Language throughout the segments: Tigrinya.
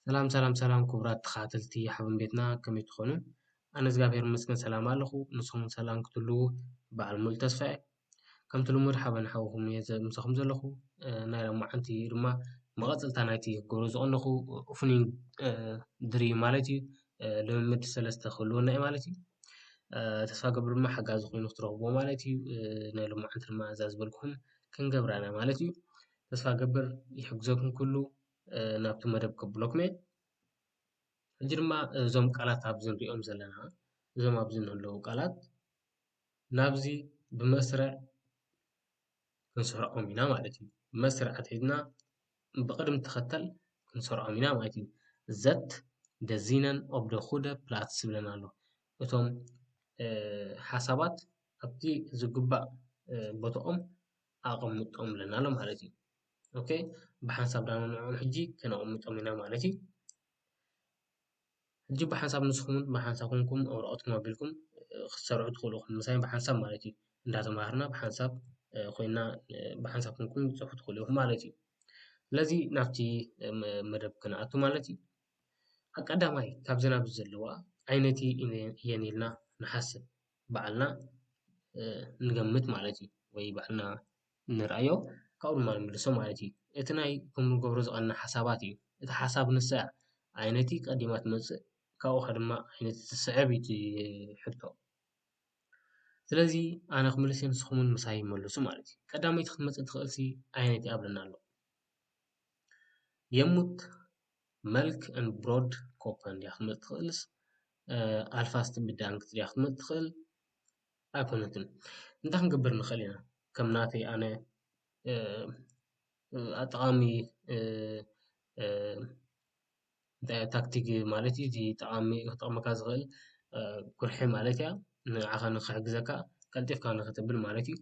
ሰላም ሰላም ሰላም ክቡራት ተኸታተልቲ ሓበን ቤትና ከመይ ትኾኑ? ኣነ እግዚኣብሔር ይመስገን ሰላም ኣለኹ ንስኹም ሰላም ክትህልዉ በዓል ሙሉእ ተስፋ እየ። ከምቲ ልሙድ ሓበን ሓውኹም እየ ምሳኹም ዘለኹ ናይ ሎማዓንቲ ድማ መቐፅልታ ናይቲ ክገብሮ ዝቐነኹ ኦፕኒንግ ድሪም ማለት እዩ ልምምድ ሰለስተ ክህልወና እዩ ማለት እዩ ተስፋ ገብር ድማ ሓጋዚ ኮይኑ ክትረኽብዎ ማለት እዩ ንሎማዓንቲ ድማ እዛ ዝበልኩኹም ክንገብራ ኢና ማለት እዩ ተስፋ ገብር ይሕግዘኩም ኩሉ ናብቲ መደብ ከብለኩም እየ ሕጂ ድማ እዞም ቃላት ኣብዚ ንሪኦም ዘለና እዞም ኣብዚ ንህለዉ ቃላት ናብዚ ብመስርዕ ክንሰርዖም ኢና ማለት እዩ። መስርዕ ኣትሒዝና ብቅደም ተኸተል ክንሰርዖም ኢና ማለት እዩ። ዘት ደዚነን ኦብ ደ ኩደ ፕላትስ ዝብለና ኣሎ። እቶም ሓሳባት ኣብቲ ዝግባእ ቦትኦም ኣቀምጦም ኣለና ማለት እዩ። ኦኬ ብሓንሳብ ድማ ንዕኦም ሕጂ ከነቀምጦም ኢና ማለት እዩ። ሕጂ ብሓንሳብ ንስኹም ብሓንሳብ ኮንኩም ኣብ ወረቀትኩም ኣቢልኩም ክትሰርሑ ትኽእሉ ኢኹም። ምሳይ ብሓንሳብ ማለት እዩ። እንዳተማሃርና ብሓንሳብ ኮይና ብሓንሳብ ኮንኩም ክትሰርሑ ትኽእሉ ኢኹም ማለት እዩ። ስለዚ ናብቲ መደብ ክንኣቱ ማለት እዩ። ኣብ ቀዳማይ ካብዚ ናብዚ ዘለዋ ዓይነቲ እየን ኢልና ንሓስብ። ባዕልና ንገምት ማለት እዩ። ወይ ባዕልና ንርኣዮ ካብኡ ድማ ንምልሶ ማለት እዩ። እቲ ናይ ከም ንገብሮ ዝቀነና ሓሳባት እዩ። እቲ ሓሳብ ንሳ እያ ዓይነቲ ቀዲማ ትመጽእ ካብኡ ከ ድማ ዓይነቲ ትስዕብ እዩ እቲ ሕቶ። ስለዚ ኣነ ክምልስ እየ ንስኩም ዉን ምሳይ መልሱ ማለት እዩ። ቀዳመይቲ ክትመጽእ ትክእል ሲ ዓይነቲ እያ ኣለና ኣሎ። የሙት መልክ ን ብሮድ ኮፐን ድያ ክትመጽእ ትክእልስ ኣልፋስት ን ብዳንክት ድያ ክትመጽእ ትክእል። ኣይኮነትን እንታይ ክንገብር ንክእል ኢና ከም ናተይ ኣነ ጠቃሚ ታክቲክ ማለት እዩ እዚ ጠቃሚ ክጠቅመካ ዝክእል ቁርሒ ማለት እያ ንዓካ ንክሕግዘካ ቀልጢፍካ ንክትብል ማለት እዩ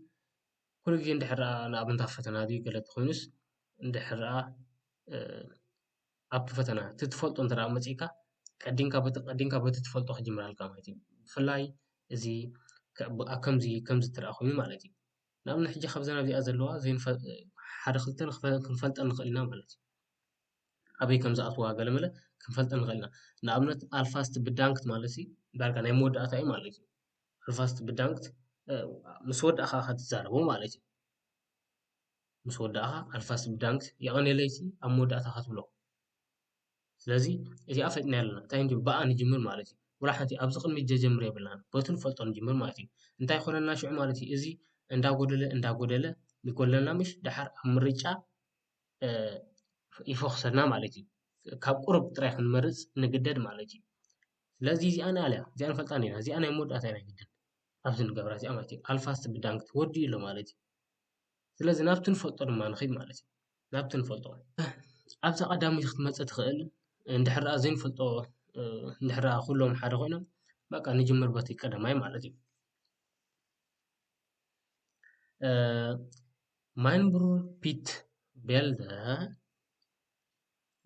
ኩሉ ግዜ እንድሕር ድኣ ንኣብነት ኣብ ፈተና ድዩ ገለ እንተኮይኑስ እንድሕር ድኣ ኣብቲ ፈተና እቲ ትፈልጦ እንተ መጺእካ ቀዲምካ በቲ ቀዲምካ በቲ ትፈልጦ ክጅምር ኣለካ ማለት እዩ። ብፍላይ እዚ ኣብ ከምዚ ከምዚ እንተ ኮይኑ ማለት እዩ። ንኣብነት ሕጂ ካብዘን ኣብዚኣ ዘለዋ ሓደ ክልተ ክንፈልጠን ንኽእል ኢና ማለት እዩ። ኣበይ ከም ዝኣትዋ ገለ መለ ክንፈልጠን ንኽእል ኢና። ንኣብነት ኣልፋ ስትብዳንክት ማለትሲ ዳርጋ ናይ መወዳእታ እዩ ማለት እዩ። ኣልፋ ስትብዳንክት ምስ ወዳእካ ኢኻ ትዛረቦ ማለት እዩ። ምስ ወዳእካ ኣልፋስ ብዳንክስ የቀኔለይሲ ኣብ መወዳእታ ከትብሎ ስለዚ እዚኣ ፈጥና ኣለና እንታይ እንዲዩ ብኣ ንጅምር ማለት እዩ ወላ ሓንቲ ኣብዚ ቅድሚት ጀጀምር የብልናን በቱ ንፈልጦ ንጅምር ማለት እዩ እንታይ ኮነና ሽዑ ማለት እዩ እዚ እንዳጎደለ እንዳጎደለ ይጎለና ምሽ ድሓር ኣብ ምርጫ ይፈክሰና ማለት እዩ ካብ ቁርብ ጥራይ ክንመርፅ ንግደድ ማለት እዩ ስለዚ እዚኣ ንኣልያ እዚኣ ንፈልጣ ኒና እዚኣ ናይ መወዳእታ ናይ ግድን ኣብዚ ንገብራ እዚኣ ማለት እዩ ኣልፋ ስብዳንግ ትወዲ ኢሎ ማለት እዩ ስለዚ ናብቲ ንፈልጦ ድማ ንኸይድ ማለት እዩ። ናብቲ ንፈልጦ ኣብዛ ቀዳመይቲ ክትመፅእ ትኽእል እንድሕር ደኣ ዘይንፈልጦ እንድሕር ደኣ ኩሎም ሓደ ኮይኖም በቃ ንጅምር በቲ ቀዳማይ ማለት እዩ። ማይንብሩ ፒት ቤልደ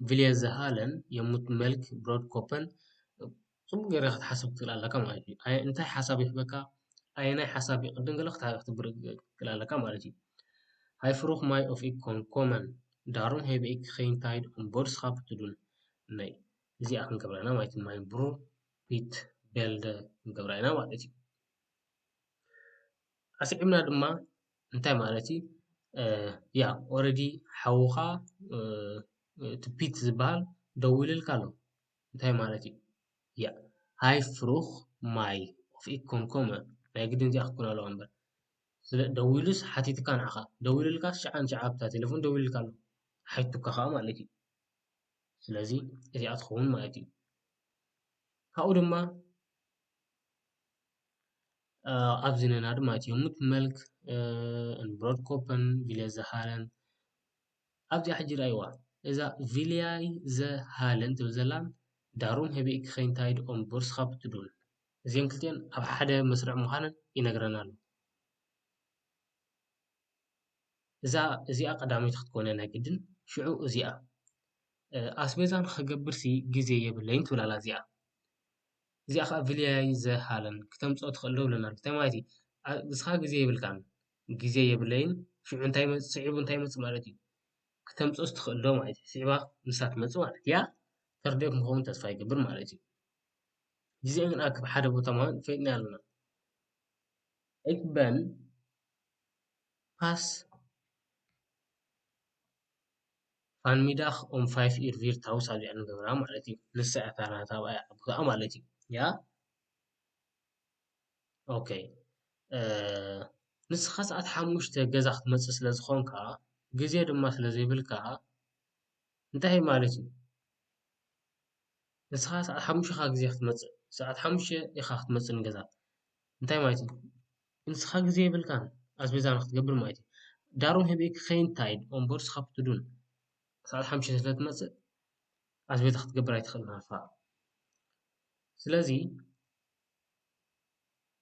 ቪልየ ዘሃለን የሙት መልክ ብሮድ ኮፐን ጽቡቕ ጌረ ኽትሓስብ ትኽእል ኣለካ ማለት እዩ። ኣይ እንታይ ሓሳብ ይህበካ ኣየናይ ሓሳብ ይቕድም ገለ ክትብር ትኽእል ኣለካ ማለት እዩ። ሃይ ፍሩኽ ማይ ኦፍ ኢኮን ኮመን ዳሩም ሄበ ኢክ ዄይንታይድ ኦምቦድስካፕ ትዱን ናይ እዚኣ ክንገብራ ኢና ማለት እዩ። ማይ ብሩር ፒት ቤልደ ክንገብራ ኢና ማለት እዩ። ኣስዒብና ድማ እንታይ ማለት እዩ ያ ኦረዲ ሓውኻ እቲ ፒት ዝበሃል ደዊሉልካ ኣሎ እንታይ ማለት እዩ ያ ሃይ ፍሩኽ ማይ ኦፍ ኢኮምኮመ ናይ ግድን እዚኣ ክትኮን ኣለዋ እምበር ስለ ደዊሉስ ሓቲትካ ንዓኻ ደዊሉልካስ ሽዓ ንሽዓ ኣብታ ቴለፎን ደዊሉልካ ኣሎ ሓቲቱካ ከኣ ማለት እዩ ስለዚ እዚኣ ትኸውን ማለት እዩ ካብኡ ድማ ኣብዚ ዘለና ድማ እቲ ሙት መልክ እንበሮር ኮፐን ቪልያ ዘሃለን ኣብዚኣ ሕጂ ረኣይዋ እዛ ቪልያይ ዘሃለን ትብል ዘላ ዳሩም ህቢእኪ ከይንታይድ ኦም ቦርስካ ብትዱል እዚኤን ክልቲኤን ኣብ ሓደ መስርዕ ምዃነን ይነግረና ኣሎ እዛ እዚኣ ቀዳመይቲ ክትኮን እያ ናይ ግድን ሽዑ እዚኣ ኣስቤዛ ንኽገብርሲ ግዜ የብለይን ትብል ኣላ እዚኣ። እዚኣ ከኣ ብለያይ ዘሃለን ክተምጽኦ ትኽእል ዶ ይብለና ኣሎ። እንታይ ማለት እዩ ንስኻ ግዜ የብልካን ግዜ የብለይን ሽዑ እንታይ ይመጽእ ስዒቡ እንታይ ይመጽእ ማለት እዩ ክተምጽኦስ ትኽእል ዶ ማለት እዩ ስዒባ ንሳ ትመጽእ ማለት እያ ተርዲኦ ክንከውን ተስፋ ይገብር ማለት እዩ። ግዜ ግን ኣብ ሓደ ቦታ ምሃብ ፈሊጥና ኣለና። እበን ፓስ። ፋንሚዳኽ ኡም ፋይፍ ኢር ቪር ታውስ ኣብ ዚዕን ገብራ ማለት እዩ ንሳ እያ እታ ናታ ኣብኣ እያ ዓቡትኣ ማለት እዩ ያ ኦኬ ንስኻ ሰዓት ሓሙሽተ ገዛ ክትመጽእ ስለ ዝኾንካ ግዜ ድማ ስለ ዘይብልካ እንታይ እዩ ማለት እዩ ንስኻ ሰዓት ሓሙሽተ ኢኻ ግዜ ክትመጽእ ሰዓት ሓሙሽተ ኢኻ ክትመጽእ ንገዛ እንታይ ማለት እዩ? ንስካ ግዜ የብልካን ኣስቤዛ ንክትገብር ማለት እዩ ዳሩ ንህቢ ክከይድ እንታይ ኢዩ ኦምበር ንስካ ክትዱን ክሳዕ ሓሙሽተ ስለ ትመጽእ ኣስቤዛ ክትገብር ኣይትክእልን ኣካ ስለዚ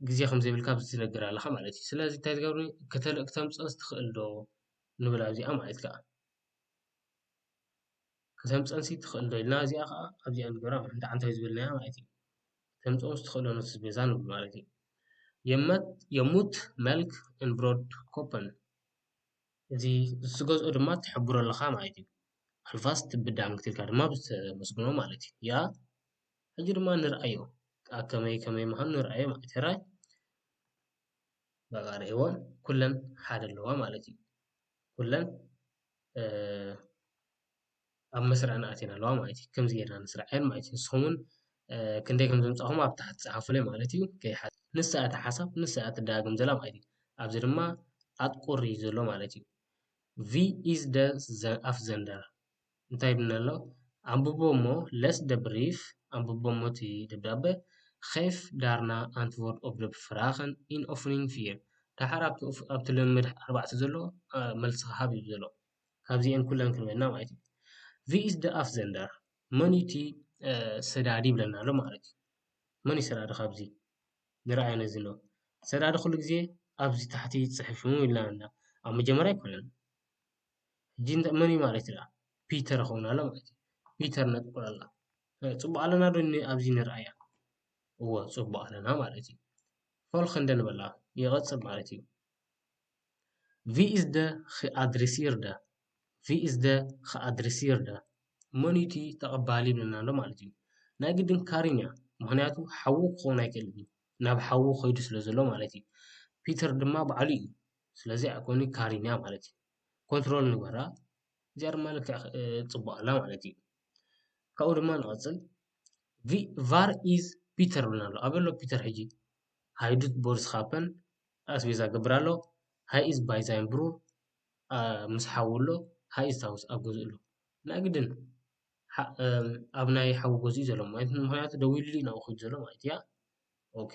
ግዜ ከም ዘይብልካ ኣብዚ ትነግር ኣለካ ማለት እዩ ስለዚ እንታይ ትገብር ከተምጽኦስ ትክእል ዶ ንብል ኣብዚኣ ማለት እዩ። ከተምጽኣንሲ ትኽእል ዶ ኢልና እዚኣ ኸኣ ኣብዚኣ ንግበራ እንተ ዓንተ ዝበልናያ ማለት እዩ። ተምጽኦ ዝትኽእሎ ኖት በዛ ንብሎ ማለት እዩ። የመት የሙት መልክ እን ብሮድ ኮፐን እዚ ዝትገዝኦ ድማ ትሕብሮ ኣለኻ ማለት እዩ። ኣልፋስ ትብዳንክ ትልካ ድማ ብዝተመስግኖ ማለት እዩ። ያ ሕጂ ድማ ንርኣዮ ኣከመይ ከመይ ምዃኑ ንርኣዮ ማለት እዩ። ሕራይ በቓ ርእይዎ ኩለን ሓደ ኣለዋ ማለት እዩ። ኩለን ኣብ መስርዐን ኣትየን ኣለዋ ማለት እዩ። ከምዚ ጌርና ነስርዐን ማለት እዩ። ንስኹም እውን ክንደይ ከም ዘምጻእኹም ኣብ ታሕቲ ጸሓፉለይ ማለት እዩ። ከይሓ- ንሳ እቲ ሓሳብ ንሳ እያ ትደጋግም ዘላ ማለት እዩ። ኣብዚ ድማ ኣጥቁር እዩ ዘሎ ማለት እዩ። ቪ ኢዝ ደ ኣፍዘንደር እንታይ ይብል ኣሎ ኣንብቦ እሞ ለስ ደ ብሪፍ ኣንብቦ እሞ እቲ ደብዳበ ኼፍ ዳርና ኣንትወርድ ኦፍ ደ ፍራኸን ኢን ኦፍኒን ፊር ደሓር ኣብቲ ልምምድ ኣርባዕተ ዘሎ መልስኻ ሃብ እዩ ዘሎ ካብዚኤን ኩለን ክንበልና ማለት እዩ ቪ ኢዝ ደ ኣፍ ዘንደር መን እዩ እቲ ሰዳዲ ይብለና ኣሎ ማለት እዩ መን እዩ ሰዳዲ ካብዚ ንርኣዮ ነዚ ሎ ሰዳዲ ኩሉ ግዜ ኣብዚ ታሕቲ ፅሑፍ ኢልና ኣለና ኣብ መጀመርያ ኣይኮነን ሕጂ እንተ መን እዩ ማለት እዩ ደኣ ፒተር ክኸውን ኣሎ ማለት እዩ ፒተር ነጥቁር ኣላ ጽቡቅ ኣለና ዶ ኣብዚ ንርኣያ እወ ጽቡቅ ኣለና ማለት እዩ ፎል ክንደን በላ ይቀጽል ማለት እዩ ቪ ኢዝ ደ ኣድሪሲር ደ ቪ ኢዝ ደ ኣድሪሲር ደ መን እዩ እቲ ተቀባሊ ይብለና ኣሎ ማለት እዩ ናይ ግድን ካሪን እያ ምኽንያቱ ሓዉ ክኸውን ኣይክእልን እዩ ናብ ሓዉ ከይዱ ስለ ዘሎ ማለት እዩ ፒተር ድማ ባዕሉ እዩ ስለዚ ኣይኮን እዩ ካሪኛ ማለት እዩ ኮንትሮል ንግበራ እዚኣ ድማ ልክዕ ፅቡቅ ኣላ ማለት እዩ ካብኡ ድማ ንቀፅል ቫር ኢዝ ፒተር ይብለና ኣሎ ኣበይ ኣሎ ፒተር ሕጂ ሃይ ዱ ቦርስ ካፐን ኣስቤዛ ክገብር ኣሎ ሃይ ኢዝ ባይ ዛይን ብሩር ምስ ሓዉ ኣሎ ሃይ ኢዝ ታውስ ኣብ ገዝኡ ኣሎ ናይ ግድን ኣብ ናይ ሓዉ ገዝኡ እዩ ዘሎ ምክንያቱ ደዊሉ እዩ ናብኡ ከይዱ ዘሎ ማለት እዩ ኦኬ።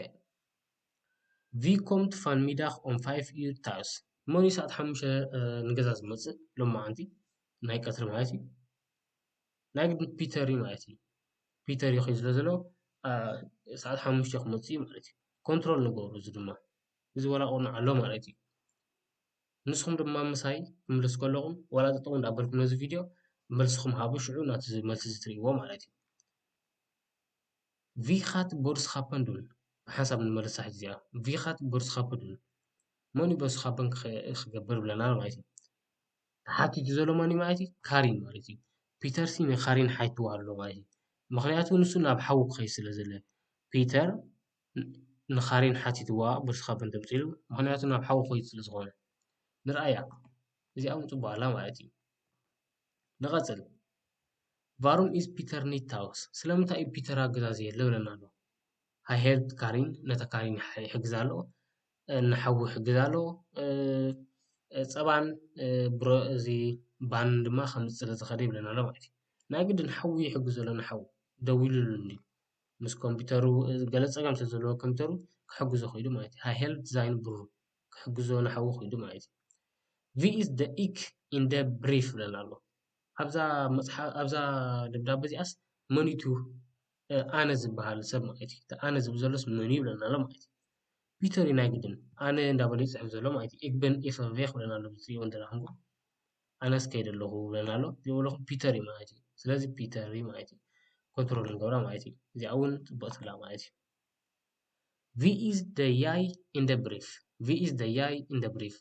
ቪ ኮምት ፋን ሚዳክ ኦም ፋይፍ ኢዩ ታውስ መን ኢዩ ሰዓት ሓሙሽተ ንገዛ ዝመጽእ ሎማዓንቲ ናይ ቀትሪ ማለት ኢዩ ናይ ግድን ፒተር ኢዩ ማለት ኢዩ ፒተር ኢዩ ክብል ዝሎ ሰዓት ሓሙሽተ ክመጽእ ኢዩ ማለት ኢዩ ኮንትሮል ንገሩ እዚ ድማ እዚ ዋላ ቅኑዕ ኣሎ ማለት ኢዩ ንስኩም ድማ ምሳይ ክትምለሱ ከለኩም ዋላ ጠጠው እንዳ በልኩም ነዚ ቪድዮ መልስኩም ሃቡ ሽዑ ናቱ መልሲ ትሪኢዎ ማለት ኢዩ። ቪኻት ቦርስኻፐንዱን ሓንሳብ ንመልሳ ሕጂ እዚኣ ቪኻት ቦርስኻፐዱን መን እዩ ቦርስኻፐን ክገብር ብለና ኣሎ ማለት እዩ። ተሓቲቱ ዘሎ መን እዩ ማለት እዩ ካሪን ማለት እዩ። ፒተር ሲ ንካሪን ሓቲትዋ ኣሎ ማለት እዩ። ምኽንያቱ ንሱ ናብ ሓዊ ክኸይድ ስለ ዘሎ ፒተር ንካሪን ሓቲትዋ ቦርስኻፐን ተምጺኡ ምኽንያቱ ናብ ሓዊ ክኸይድ ስለ ዝኾነ ንርኣያ እዚኣ ውን ጽቡቕ ኣላ ማለት እዩ። ንቐጽል፣ Warum ist Peter nicht tags? ስለምንታይ እዩ ፒተር ኣብ ገዛ ዘየለ? ይብለና ኣሎ። Er helpt Karin፣ ነታ ካሪን ይሕግዛ ኣሎ። ንሓዉ ይሕግዛ ኣሎ። ጸባን ብሮ እዚ ባንን ድማ ከምጽእ ስለ ዝኸደ ይብለና ኣሎ ማለት እዩ። ናይ ግድን ንሓዉ ይሕግዞ ኣሎ ንሓዉ ደዊሉሉ እንድዩ። ምስ ኮምፒተሩ ገለ ጸገም ስለ ዘለዎ ኮምፒተሩ ክሕግዞ ኽኢሉ ማለት እዩ። Er helpt seinen Bruder። ክሕግዞ ንሓዉ ክይዱ ማለት እዩ። ቪኢስ ደ ኢክ ኢን ደ ብሪፍ ይብለና ኣሎ። ኣብዛ ደብዳበ እዚኣስ መንዩ እቲ ኣነ ዝበሃል ሰብ ማለት እዩ። እቲ ኣነ ዝብል ዘሎስ መንዩ ይብለና ኣሎ ማለት እዩ። ፒተር እዩ ናይ ግድን ኣነ እንዳበለዩ ዝጽሕፍ ዘሎ ማለት እዩ። ኢክ ብን ኢክ ቬክ ይብለና ኣሎ ብትሪእዎ እንተደኣኹምኩም። ኣነስ ከይደ ኣለኹ ይብለና ኣሎ። እዚ ዝበለኹ ፒተር እዩ ማለት እዩ። ስለዚ ፒተር እዩ ማለት እዩ። ኮንትሮል ንገብራ ማለት እዩ። እዚኣ እውን ጽብቕቲ ኣላ ማለት እዩ። ቪኢዝ ዘ ያይ ኢን ዘ ብሪፍ ቪኢዝ ዘ ያይ ኢን ዘ ብሪፍ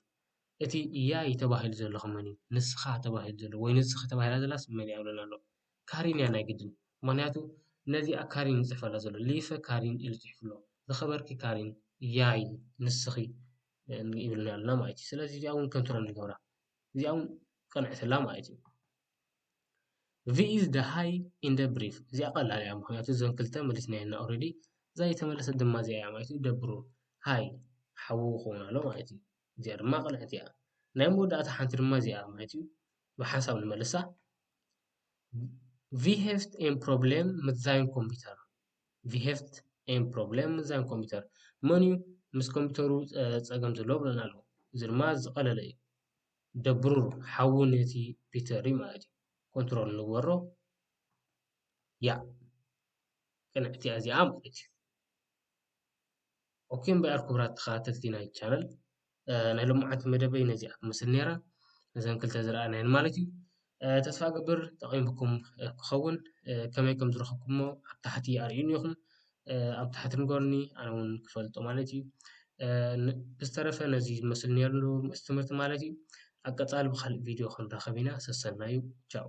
እቲ ያይ ተባሂሉ ዘሎ ከ መን እዩ? ንስኻ ተባሂሉ ዘሎ ወይ ንስኺ ተባሂላ ዘላስ መን እያ ዝብለና ዘሎ? ካሪን እያ ናይ ግድን ምኽንያቱ ነዚኣ ካሪን እዩ ዝፅሕፈላ ዘሎ ሊፐ ካሪን ኢሉ ፅሒፉ ኣሎ ዝኸበርኪ ካሪን ያይ ንስኺ ይብለና ኣሎ ማለት እዩ። ስለዚ እዚኣ እውን ከንቶ ኢና ንገብራ እዚኣ እውን ቅንዕቲ እላ ማለት እዩ። እዚ ኢዝ ዘ ሃይ ኢንደ ብሪፍ እዚኣ ቀላል እያ ምክንያቱ እዘን ክልተ መሊስናየን ኦሬዲ እዛ ዘይተመለሰት ድማ እዚኣ እያ ማለት እዩ ደብሩ ሃይ ሓዊ ክከውን ኣለዎ ማለት እዩ እዚኣ ድማ ቅንዕቲ እያ ናይ መወዳእታ ሓንቲ ድማ እዚኣ እያ ማለት እዩ ብሓንሳብ ንመልሳ ቪ ሄቭት ኤን ፕሮብሌም ምስ ዛይን ኮምፒተር ቪ ሄቭት ኤን ፕሮብሌም ምስ ዛይን ኮምፒተር መን እዩ ምስ ኮምፒተሩ ፀገም ዘለዎ በለና ኣሎ እዚ ድማ ዝቀለለ እዩ። ደብሩር ሓዊ ነቲ ፒተሪ ማለት እዩ ኮንትሮል ንግበሮ ያእ ቅንዕቲ እያ እዚኣ ማለት እዩ ኦኬ እምበኣር ክቡራት ተኸታተልቲ ናይ ቻነል ናይ ሎምዓንቲ መደበይ ነዚኣ ትመስል ነይራ ነዘን ክልተ ዝረኣናየን ማለት እዩ ተስፋ እገብር ጠቒምኩም ክኸውን ከመይ ከም ዝረኸብኩሞ ኣብ ታሕቲ ኣርእዩኒ ኢኹም ኣብ ታሕቲ ንገሩኒ ኣነ እውን ክፈልጦ ማለት እዩ ብዝተረፈ ነዚ ዝመስል ነይሩ ምስ ትምህርቲ ማለት እዩ ኣብ ቀፃሊ ብካልእ ቪድዮ ክንራኸብ ኢና ሰሰናዩ ቻው